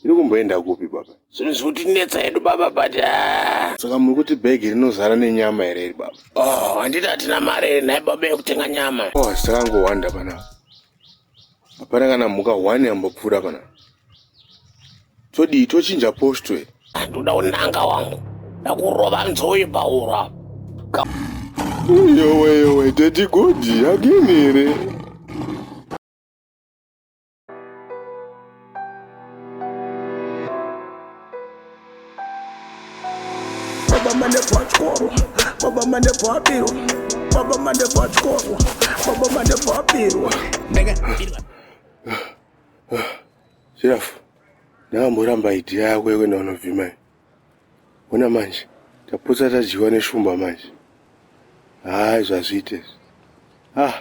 Tiri kumboenda kupi baba? Zvinhu zvikutinetsa hedu baba but ah. Saka muri kuti bhegi rinozara nenyama here iri baba? Oh, handiti hatina mari here nhai baba yekutenga nyama? Oh, asi takangowanda panapa. Hapana kana mhuka one yambopfuura panapa. todii tochinja posto here ndoda unanga wangu ndakurova nzoi paura yowe yowe teti godi agini here baba mane pachikoro baba mane pabirwa baba mane pachikoro baba mane pabirwa Zvirafo, ndakamboramba idea yako yekuenda kunovhima iyi. Ona manje, tapotsa tadyiwa neshumba manje. Hayi zvazviite izvi. Ah,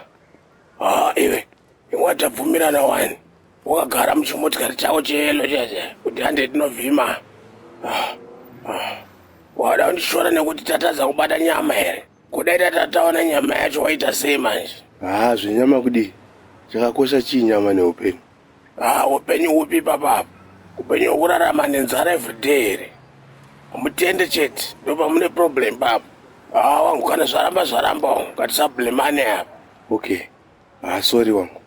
Ah, iwe iwe tabvumirana wani wakagara muchimotikari chako cheyelo chese kuti hande tinovhima Ah, ah. wada kundishora nekuti tatadza kubata nyama here Kudai tatataona nyama yacho waita sei manje? Haa zvenyama kudii? Chakakosha chii nyama neupenyu? Haa upenyu hupi papapa? Upenyu hwekurarama nenzara everyday here? Mutende chete ndopamune problem papa. Haa wangu kana zvaramba zvaramba wangu ngatisablemane apa. Okay. Haa sorry wangu.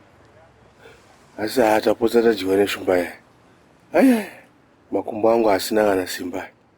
Asi haa tapotsa tadyiwa neshumba yaya. Ayaya makumbo angu asina kana simba.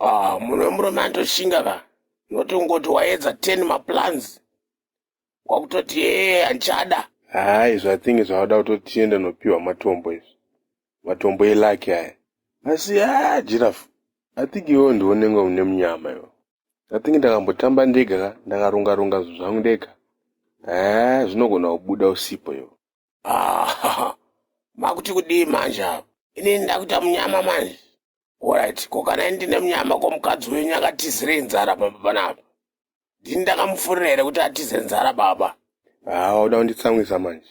ah munhu wemurume anotoshinga ka not ungoti waedza 10 maplans kwakutoti ee handichada haa izvo i think zvavada kutoti tiende nopiwa matombo izvi matombo elaki aya asi haa jirafu i think iwewo ndiwo nenge une munyama iwo i think ndakambotamba ndega ka ndakarunga runga zvinhu zvangu ndega haa zvinogona kubuda usipo iwo Ah, makuti kudii manje apa inini ndakuita munyama manje Alright, ko kana ini ndine munyama ko mukadzi wenyu akatizirei nzara pamba panapa? Ndini ndakamufurira here kuti atize nzara baba? Haa wauda kunditsamwisa manje.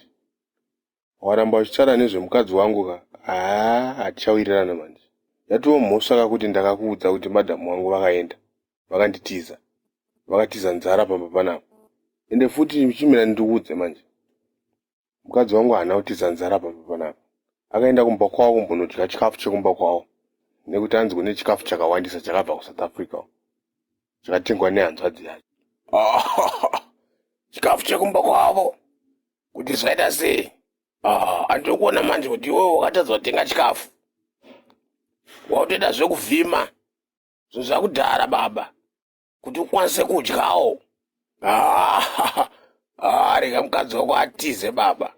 Waramba uchitaura nezvemukadzi wangu ka? Haa hatichawirirana manje. Yatova mhosva ka kuti ndakakuudza kuti madam wangu vakaenda, vakanditiza. Vakatiza nzara pamba panapa. Ende futi chimira ndikuudze manje. mukadzi wangu haana kutiza nzara pamba panapa akaenda kumba kwavo kumbonodya chikafu chekumba kwavo nekuti anzi kune chikafu chakawandisa chakabva kusouth africa chakatengwa nehanzvadzi yacho chikafu chekumba kwavo kuti zvaita sei ah, andiri kuona manje kuti iwewe wakatadza kutenga chikafu wautoita zvekuvhima zvinhu zvakudhara baba kuti ukwanise kudyawo arega mukadzi wako atize baba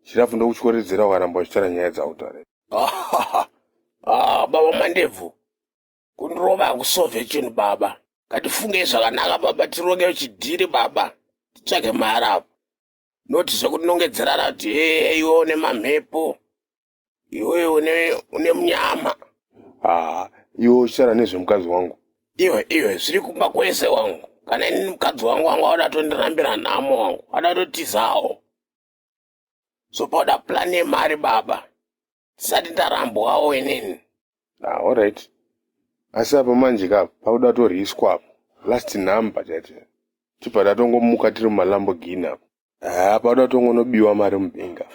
chirafu ndokutyoridzira ukaramba uchitaura nyaya dzautare ah, baba mandebvu kundirova hakusove chinhu baba ngatifungei zvakanaka baba tironge chidhiri baba titsvage maharapo noti zvekunongedzerana kuti hee iwe une mamhepo iwe une une mnyama ah iwe uchara nezvemukadzi wangu iwe iwe zviri kumba kwese wangu kana ini mukadzi wangu wangu auda tondirambira nhamo wangu auda totizawo zopauda plan yemari baba tisati ndarambwawo inini ah alright asi apa manje ka pakuda toriswa apa last number chaicho tibva tatongomuka tiri mumalamborghini apa haa panoda kutongonobiwa mari mubenga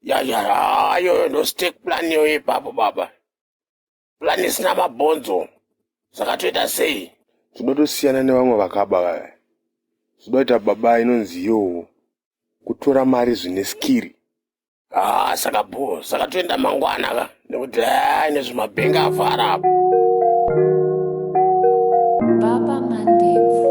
yayayoyo ndostek plan yoyo ipapo baba plan isina mabhonzo saka toita sei tinoda tosiyana nevamwe vakaba vaya tinoda kuita baba inonzi yowo kutora mari zvine skiri Ah, saka bho, saka toenda mangwana ka nekuti hai nezvemabhenga avhara apo. Baba Mandebvu.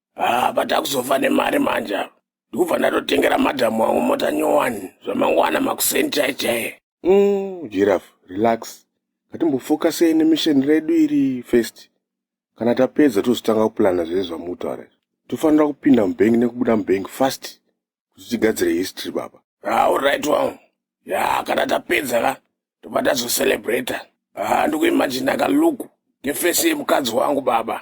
haa but akuzofa nemari manje apa ndikubva ndatotengera madhamu wangu mota nyowani zvamangwana makuseni chai chaiye mm, jiraf relax ngatimbofokasei nemisheni redu iri first kana tapedza tozotanga kupulana zvese zvamutaura izvi tofanira kupinda mubank nekubuda mubank fast kuti tigadzire history baba auright ah, wangu ya kana tapedza ka tobva tazocelebrata ah, ndikuimajina kaluku ngefesi yemukadzi wangu baba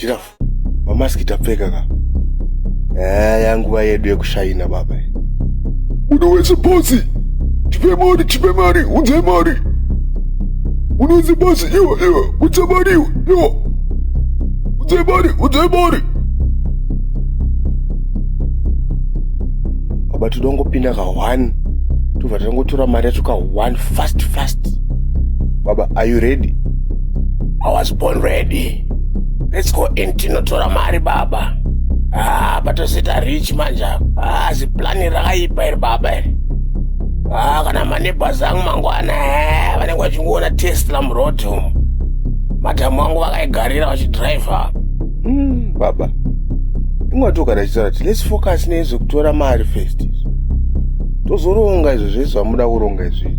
Giraffe, mamaski tapfeka ka. Eh, yanguva yedu yekushaina baba. Munhu wese bosi. Tipe mari, tipe mari, unze mari. Munhu wese bosi, iwe, iwe, unze mari, iwe. Unze mari, unze mari. Baba tinongopinda ka one. Tobva tangotora mari yacho ka one fast fast. Baba, are you ready? I was born ready. Let's go in tinotora mari baba. Ah, patozita rich manje apa. Ah, ziplani rakaipa iri baba iri. Ah, kana maneighbors angu mangwana eh, vanenge vachingoona Tesla muroad umu. Madhamu angu vakaigarira vachidriver. Mm, baba. Ingwatoka ndachitaura kuti let's focus nezvekutora mari first. Tozoronga izvo zvese zvamuda kuronga izvi.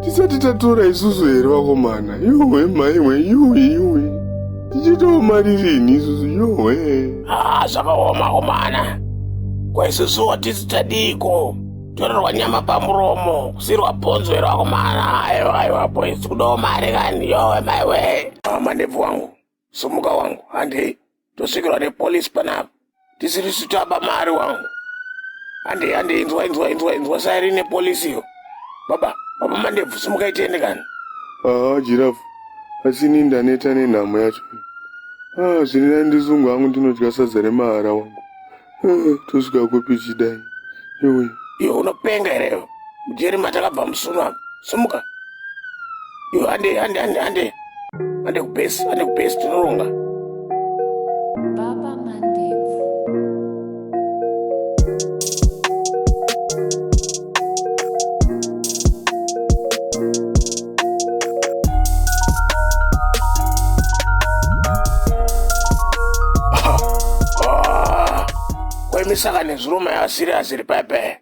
tisati tatora isusu here vakomana yohwe maihwe yuwi yuwi tichitawo mari rini isusu yohwe haa zvakaoma komana kwaisusu hatisi tadiiko torerwa nyama pamuromo kusirwa bhonzo here vakomana aiwa aiwa boys kudawo mari kani yohwe maiwe mama ndebvu wangu sumuka wangu handei tosvikirwa nepolisi panapa tisiri sitaba mari wangu handei handei inzwa inzwa inzwa inzwa sairi nepolisi yo baba baba mandebvu sumuka itiende kani haa jirafu asi ini ndaneta nenhamo yacho haa zviri nai ndizungu hangu ndinodya sadza remahara wangu Eh, tosvika kupi chidai iwe iwe unopenga here iwe mujeri matakabva musuno apa simuka iwe hande hande hande hande hande kubhesi hande kubhesi tinoronga Baba Mandebvu. saka nezviruma yavasiri asiri paya paya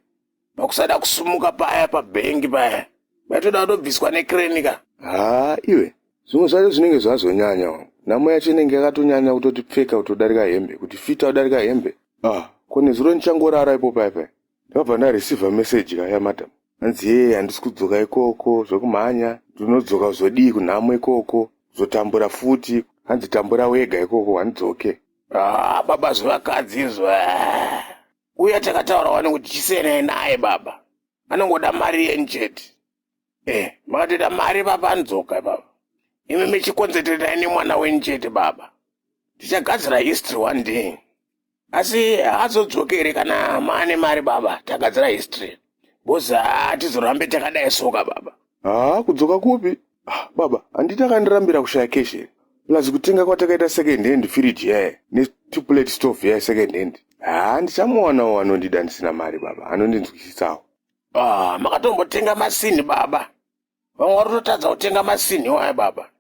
pakusada kusumuka paya pabhengi paya vaitoda kutobviswa nekrenika haa iwe zvimwe zvacho zvinenge zvazonyanya wa nhamo yacho inenge yakatonyanya kutoti pfeka kutodarika hembe kuti fita kudarika hembe ah ko nezuro ndichangorara ipo paya paya Ndakabva nda receiver message kaya madam hanzi yee handisi kudzoka ikoko zvekumhanya ndinodzoka zvodii kunhamo ikoko zotambura futi hanzi tambura wega ikoko handidzoke ah, baba zvevakadzi izvo ah. uya takataura wani kuti chisenai naye baba anongoda mari yeni chete eh makatoita mari vapanzoka baba imi michikonzeteretai nemwana wenyu chete baba tichagadzira history one day asi haazodzokere kana maane mari baba tagadzira history bcause hatizorambe takadai soka baba haa kudzoka kupi ah, baba handiti akandirambira kushaya keshe plus kutenga kwatakaita second hand firiji yaye netuplate stove yaye second hand haa ndichamuwanawo anondida ndisina mari baba anondinzwisisawo Ah, makatombotenga masini baba. Vamwe vari kutotadza kutenga masini waya baba.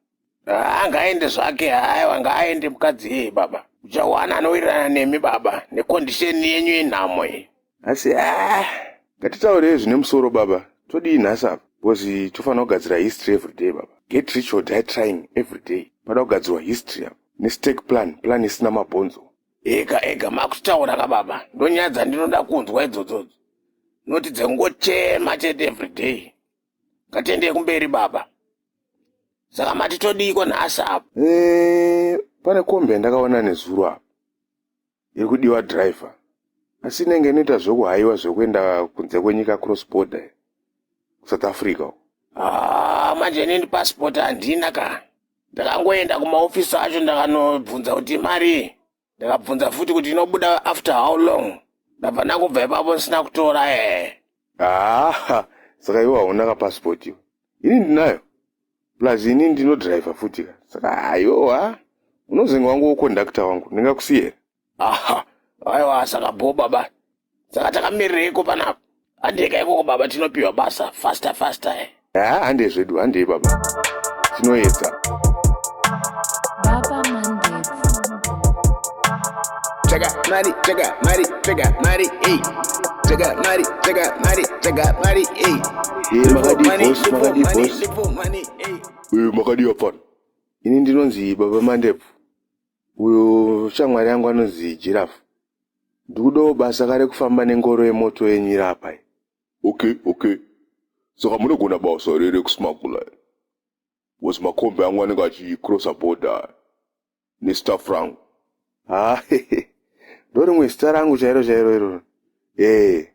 Ah, ngaende zvake, haiwa ngaaende mukadzi yeye baba. Uchawana anowirirana nemi baba, nekondisheni yenyu yenhamo iyi. Asi ah, ngatitaurei zvine musoro baba. Todii nhasi apa? Because tofanira kugadzira history every day baba. Get rich or die trying every day. Pada kugadzirwa history apa. Nestake plan, plan isina mabhonzo. ega ega makutaura ka baba ndonyaya dzandinoda kunzwa idzodzodzo noti dzengochema chete everyday ngatiendei kumberi baba saka mati todiiko nhasi apo Eh, pane kombi yandakaona nezuro apa iri kudiwa driver asi inenge inoita zvekuhaiwa zvekuenda kunze kwenyika cross border iyo, kusouth africa uko. Ah, manje inini passport handina ka ndakangoenda kumaofisi acho ndakanobvunza kuti imari ndakabvunza futi kuti inobuda after how long ndabva ndangobva ipapo ndisina kutora ee haa saka iwe hauna kapasipoti iwe ini ndinayo plus ini ndinodriver futi ka saka hayowa unozenge wangu wokondakta wangu ndingakusiyera aha aiwa saka bho baba saka takamireiko panapa handei kaikoko baba tinopiwa basa faster faster eh? haa handei zvedu handei baba tinoedza Baba Mandevu. Chega mari, chega mari, chega mari, ey. Chega mari, chega mari, chega mari, ey. Eh, makadii Money, boss, lipo, makadii money, boss? lipo, money, ey. Eh, makadii hapana ini ndinonzi baba mandevu uyo shamwari yangu anonzi jirafu ndikudawo basa kare kufamba nengoro yemoto yenyu iri apa iyi okay okay saka munogona basa here rekusmagula here was makombi angu anenge achicrossa border nestaff rangu ha ndo rimwe zita rangu chairo chairo iroro ee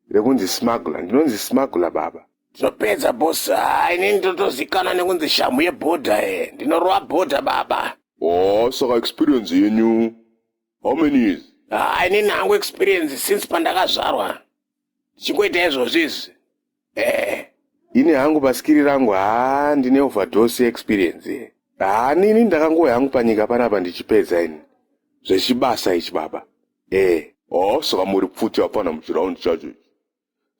rekunzi smuggler ndinonzi smuggler baba tinopedza boss ah, inini ndotozikana nekunzi shamhu yebhodha e eh. ndinorova bhodha baba oh saka experience yenyu how many years ah, inini hangu experience since pandakazvarwa ndichingoita izvozvo izvi eh ini hangu pasikiri rangu haa ah, ndine overdose experience e eh. haa ah, nini ndakangouya hangu panyika panapa ndichipedza ini zvechibasa ichi baba Eh, oh, saka muri pfuti hapana muchiround chacho ichi.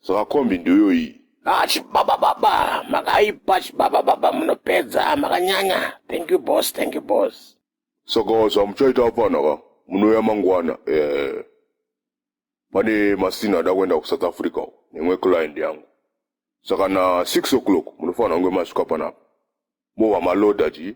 Saka kombi ndiyo iyi. Ah, chibaba baba, makaipa chibaba baba, munopedza makanyanya. Thank you boss, thank you boss. Saka zvamuchaita hapana ka? Munouya mangwana. Eh. Pane masina ada kuenda kuSouth Africa uko, nemwe client yangu. Saka na 6 o'clock munofanira kunge masvika panapa. Mova maloda chii?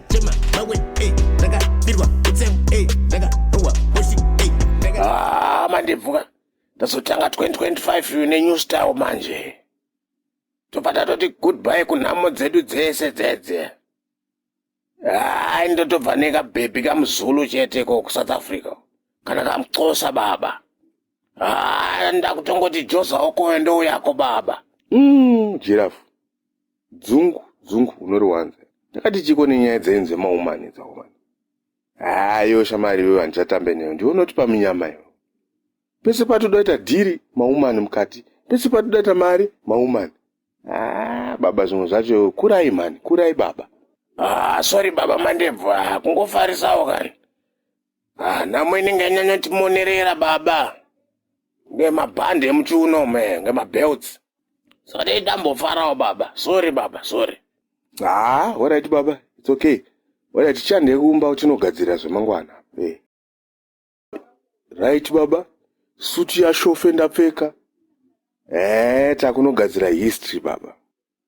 Ah, mandibvuka ndazotanga 2025 nenew style manje tobva tatoti goodbye kunhamo dzedu dzese dzedze hai ndotobva nekabhebhi kamuzulu chete ko kusouth africa kana kamuxosa baba haa ndakutongoti jozaokoyo ndouyako baba mm, jirafu Dzungu dzungu unoriwanza. Ndakati chiko nenyaya dzenyu dzemaumani dzaumani. Haa iwe shamari iwewe handichatambe newe ndiwe unotipa minyama iwe. Pese patodaita dhiri maumani mukati pese patodaita mari maumani. Haa baba zvimwe zvacho iwe kurai mhani kurai baba. Haa sorry baba mandebvu haa kungofarisawo kani. Ah, nhamo inenge yanyanya timonerera baba ngemabhandi emuchiuno me ngemabelts saka dai tambofarawo baba sorry baba sorry haa horaiti baba its okay horaiti tichande kumba uchinogadzirira zvemangwana Eh. right baba suti yashofe ndapfeka ee takunogadzira history baba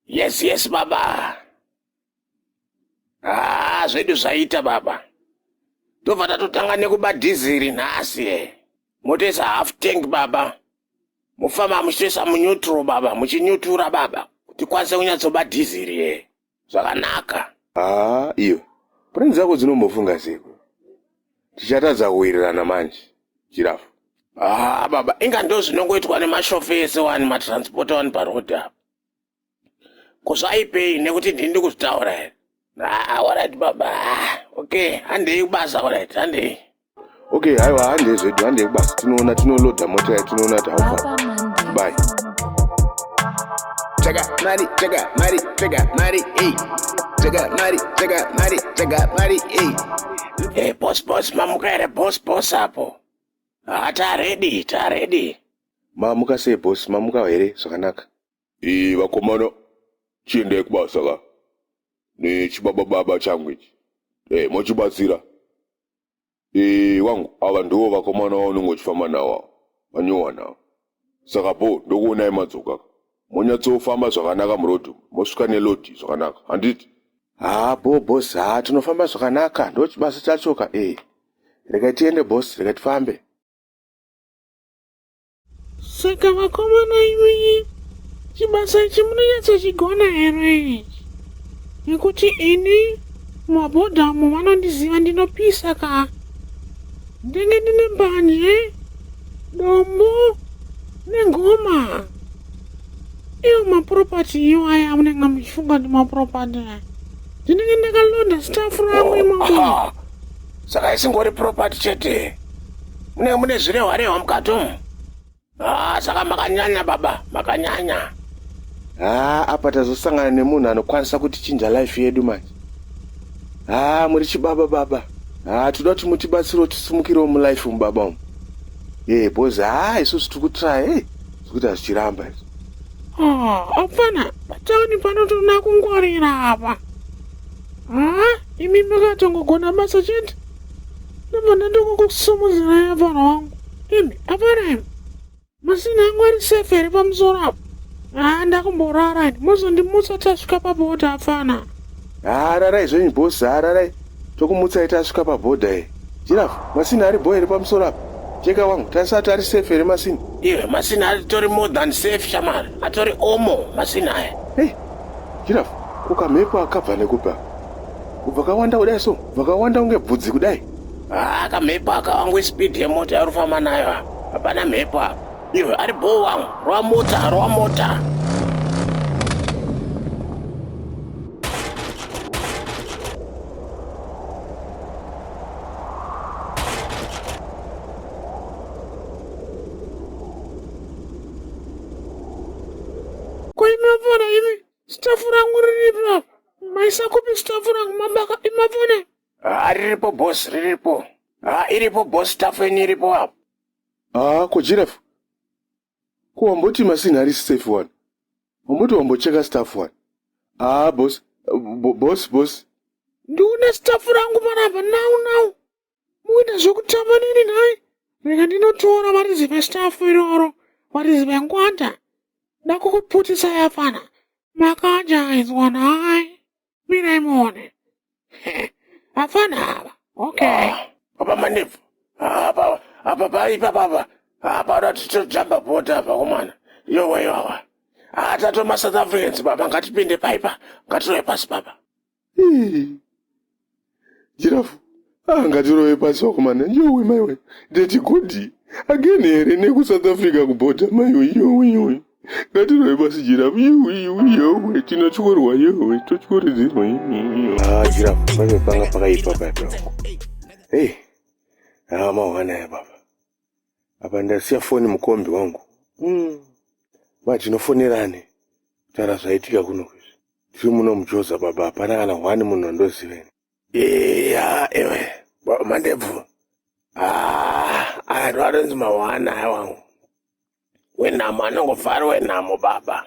yes yes baba haa zvedu zvaita baba tobva tatotanga nekuba dhiziri nhasi e motoisa half tank baba mofamba muchitoisa munyutro baba muchinyutura baba kuti kwanise kunyatsoba dhiziri e zvakanaka haa iyo purani dzako dzinombofunga seko tichatadza kuwirirana manje chirafu haa baba inga ndo zvinongoitwa nemashofesi wani matranspota wani paroad apa Ko zvaipei nekuti ndini ndikuzvitaura here? Ah, alright baba. Ah, okay, handei kubasa alright, handei. Okay, haiwa handei zvedu, handei kubasa. Tinoona tinoloda mota yayo, tinoona kuti how far. Bye. Chega mari, chega mari, chega mari, hey. Chega mari, chega mari, chega mari, hey. Hey, boss, boss, mamuka here boss, boss apo. Ah, ta ready, ta ready. Mamuka sei boss mamuka here zvakanaka. Iih vakomana chiendai kubasa ka nechibaba baba changu ichi hey, eh, mochibatsira iih wangu ava ndiwo vakomana vaunenge uchifamba nawo ava vanyowa nawo saka bho ndokuonai madzoka monyatsofamba zvakanaka murodhi mosvika nelodhi zvakanaka handiti haa bho bos haa tinofamba zvakanaka ndochibasa chachoka ee eh, regai tiende bos regai tifambe saka vakomana imi chibasa ichi munonyatsochigona here ichi nekuti ini mabhodhamu vanondiziva ndinopisa ka ndenge ndine mbanje dombo nengoma iyo mapuropati iyo aya amunenge muchifunga ndi mapuropati ndinenge ndakalonda stafu rangu imomo saka isingori property chete mune mune zvirehwa rehwa mukati umu haa saka makanyanya baba makanyanya haa apa tazosangana nemunhu anokwanisa kutichinja life yedu manje haa muri chibaba baba haa toda kuti mutibatsirewo tisimukirewo mulife umu baba umu ee bhozi haa isusu tiri kutraya e zvekuti hazvichiramba izvo hapana patauni panotoda kungwarira apa haa imi makatongogona basa chete ndobvanda ndokungokusumuzirai apana wangu imi apanaim masina angu ari sefe iri pamusoro apo haa ndakumborara ini mozondimutsa tasvika pabhodha apfana haa rarai zvenyu bhosi haa rarai tokumutsai tasvika pabhodha e jirafu masina ari bhoe iri pamusoro apo jeka wangu tasati ari sefe ere masina iwe masina atori more than safe shamari atori omo masina aya hey Giraffe, ko kamhepo aka kabva nekupi aka? Kubva kawanda kudai so, kubva kawanda kunge bvudzi kudai. Haa kamhepo aka wangu ispeed yemota yauri kufamba nayo apa. Hapana mhepo apa. Iwe ari bhoo wangu, rova mota, rova mota. Koimavona imi stafu rangu riripi apa? Maisa kupi stafu rangu mabaka imavona? Ah, riripo boss, riripo. Ah, iripo boss, stafu yenyu iripo apa. haa ko jirafu ko wamboti masini harisi safe wani wamboti wambocheka staff wani haa bos bo- bos bos Ndiune stafu rangu panapa now now. Muita zvekutamba nini nhai? Rega ndinotora varidzi vestafu iroro, varidzi vengwanda. Ndakukuputisa yafana. Makanja aizwa nhai? Mirai muone. Hafana ava. Okay. Apa manipfu. Apa apa paipa papa. Apa ratitotamba bota apa komana. Yowe yowe. Atatomasouth Africans baba ngatipinde paipa. Ngatitoe pasi baba. jirafu ah, ngatirove pasi vakomana yowe maiwe deti godi again here nekusouth africa kubhodha maiwe yowe yowe ngatirove pasi jirafu yowe yowe yowe tinotyorwa yowe totyoredzerwa ah, jirafu paiwe panga pakaipa paipa hei hey. Ah, amahwana ya baba apa ndasiya foni mukombi wangu mm. ma tinofonerane kutaura zvaitika kuno kwizvi tiri muno mujoza baba hapana kana hwani munhu andoziveni eya ewe baba mandebvu ah, aya ndo atonzi mahwana aya wangu wenhamo anongofari wenhamo baba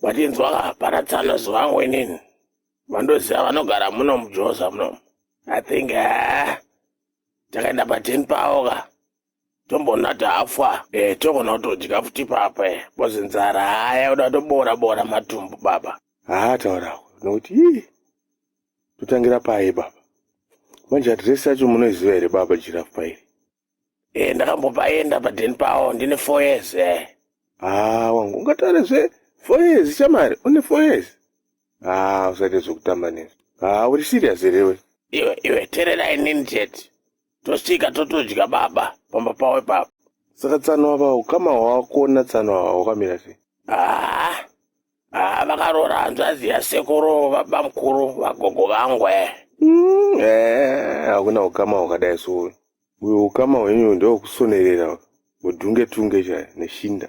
vatinzwa hapana tsano zivangu inini vandoziva vanogara muno mujoza muno i think ah, takaenda paten pawo ka tombonata afa eh, togona kutodya futi papa eh, bcoz nzara haya kuda toboora boora matumbu baba haa taura nokuti ii totangira paye baba manje adresi yacho munoiziva here baba jirafu pairi eh, ndakambopaenda padeni pawo ndine four years eh. haa wangu ungataure zve four years chamari une four years haa usaite zvekutamba nezvo haa uri serious here we iwe iwe terera inini chete tosvika totodya baba pamba pavo ipapo saka tsano ava ukama hwawakuona tsano ava hwakamira sei haa ah, haa ah, vakaroora hanzvazi yasekuru baba mukuru vagogo vangu e mm, eh, hakuna ukama hwakadai souyu uyo ukama hwenyu ndewokusonerera mudhunge tunge chaya neshinda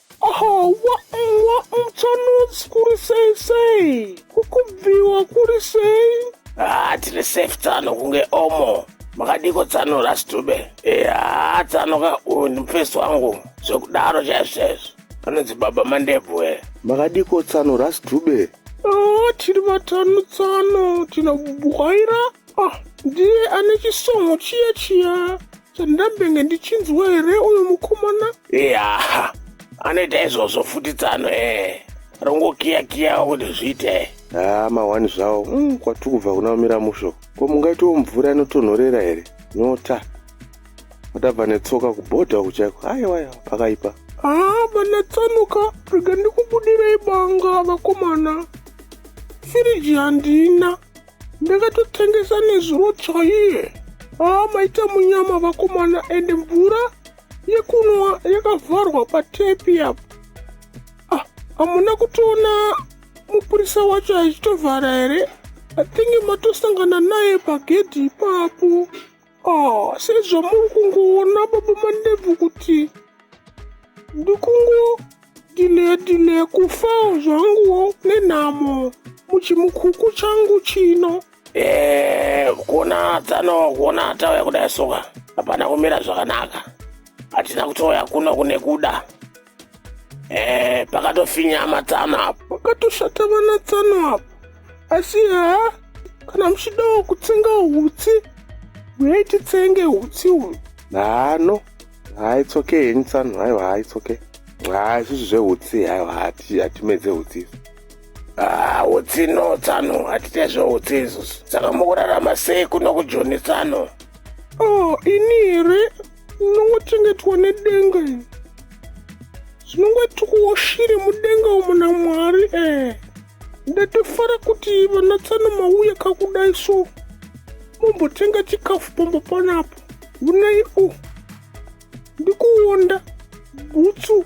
Ahawa mwa mchanodzi kuri sei sei kukubviwa kuri sei haa tiri safe tsano kunge omo makadiko tsano rastube ehaa eh, tsano ka uyu ndimufesi wangu zvekudaro chaizvo chaizvo anonzi baba mandebvu e makadiko tsano rastube haa ah, tiri vatano tsano tinabwaira ah ndiye ane chisongo chiya chiya Chandambenge ndichinzwa here uyu mukomana? Yaha, anoita izvozvo futi tsano ee. Rongokiyakiyawo kuti zviite. haa mahwani zvawo mm, kwatiri kubva kuna mira musho ko mungaitiwo mvura inotonhorera here nyota atabva netsoka kubhodha uku chaiko aiwaya pakaipa Haa vana tsanuka rega ndikubudirei banga vakomana. Firiji handina. ndakatotengesa nezuro chaiye haa maita munyama vakomana ende mvura yekunwa yakavharwa patepi apo ah, hamuna kutoona mupurisa wacho achitovhara here atenge matosangana naye pagedhi ipapo Ah, sezvo muri kungoona baba mandebvu kuti ndikungo dile dile kufa zvangu nenhamo muchimukuku changu chino Eh, kuna tsano kuna tauya kudai soka hapana kumira zvakanaka hatina kutouya kuno kune kuda Eh, pakatofinyama tsano apo pakatoshata vana tsano apo asi haa kana muchidawo kutsenga hutsi huyai titsenge hutsi uyu nano hai tsoke henyu tsano haiwa hai tsoke haa isusu zvehutsi haiwa hatimedze hutsi isu Ah, utsi no tsano hatite zveutsi isusu saka mukurarama sei kuno kujoni tsano o oh, ini here ndinongochengetwa nedenga iri zvinongotikuwo shiri mudenga umu namwari ee ndatofara kuti vanatsano mauya kakudai so mombotenga chikafu pamba panapo unei u ndikuonda bhutsu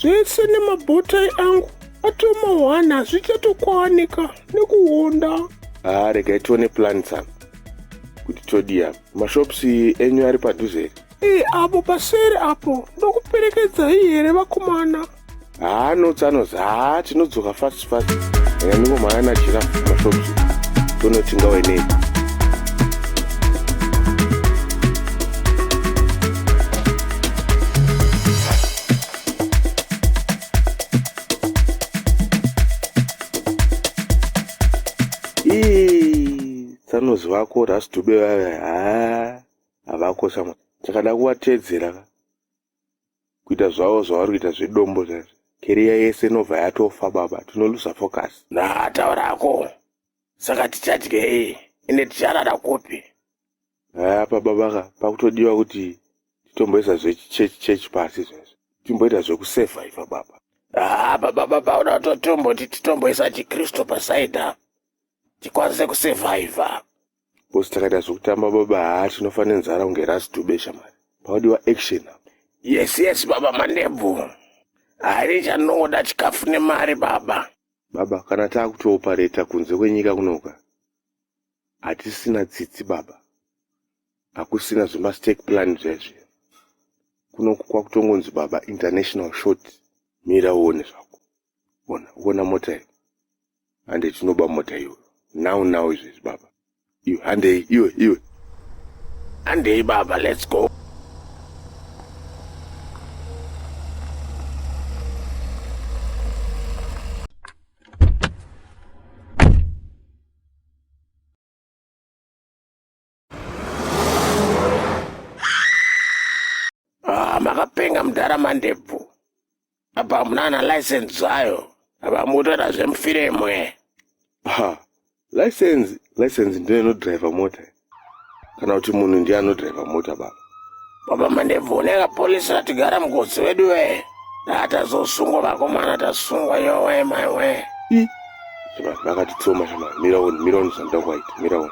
zvese nemabotai angu atomahwana hazvichatokwanika nekuhonda haa regai tione plan tsanga kuti todii apa mashops enyu ari padhuze here ee apo paseri apo ndokuperekedzai here vakomana haa nots anozi haa tinodzoka fast Sparks and ndiko maana giraffe mashops tonoti ngawe nei tsanozi vako rasdube vave haa havakosha chakada kuvatedzera kuita zvavo zvavari kuita zvedombo zvaizvo keriya yese inobva yatofa baba tinoluza focus naataurako saka tichadyei ende ticharara kupi apa babaka pakutodiwa kuti titomboisa zvechichechi chechi pasi zvaizvo timboita zvekusevhaiva baba haa baba baba uda kutotomboti titomboisa chikristu pasaida tikwanise kusevhaiva Boss takaita zvokutamba baba haa tinofa nenzara kunge ras dube shamari. Pawadiwa action apa. Yes yes baba manebvu. Hari chanoda chikafu nemari baba. Baba kana taakutoopareta kunze kwenyika kunoka. Hatisina tsitsi baba. Hakusina zvema stake plan zvezvi. Kunoku kwakutongonzi baba international short. Mira uone zvako. ona ona mota iyo hande tinoba mota iyo now now izvezvi baba iyo handei iwe iwe handei baba let's go Ah, makapenga mudhara mandebvu apa hamuna ana license zvayo apa mukutoita zvemufire imwe ha license license ndiyo inodriver mota kana kuti munhu ndiye anodriver mota baba Baba mandivhuneka polisi ratigara mukotsi wedu wee. Ndatazosungwa vakomana tasungwa yowe mai wee. I. Shema vakatitsoma shema mira one mira one zvandoda kuwaita mira one.